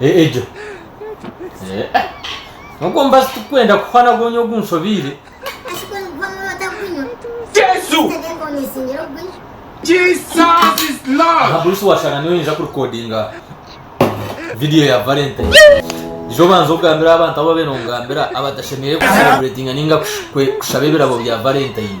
Eh, egyo. Eh, eh. Nogwo mubazi tikwenda kuhwa nagwo nyowe ogunshobeire. Jesu! Jesus is Aha Lord! Bruce washanga niwe ninja kurikodinga video ya Valentine. Ija obanze ogambire abantu abu babaire nongambira abatashemereire kucelebratinga ninga kush- kwe- kushaba ebirabo bya Valentine.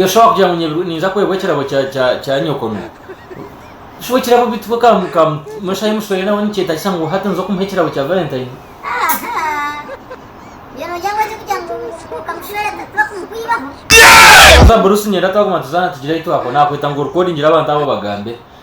Yoshua kugira ngu nyebirwe ninza kwebwa ekirabo kya nyokono. Shi bwe kirabo bitu ka mushahi mushwere nawe nikyetagisa ngu hati ninza okumuha ekirabo kya Valentine? Konka Bruce niyenda twaguma tuzaana tugire ahi twakwa. Nakweta ngu orikodingire abantu abo obagambe.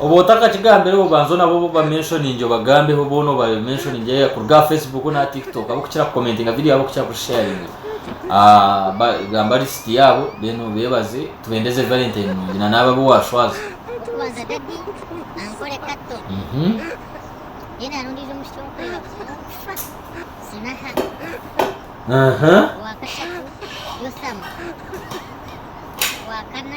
Oba otakakigambireho obanza nabo obu oba mentioningi obagambeho boona oba mentioningi either kuruga aha Facebook na TikTok abokukira kukomentinga video abokukira kusharinga ah, gamba list yabo then obebaze tubendeze Valentine nungi na naabo abu washwaza Okubanza daddy ankore kato mhm Then hariho ondiijo omwishiki owunkureba kugira okushwa Sinaha aha Owa kashatu Yotham Owa kana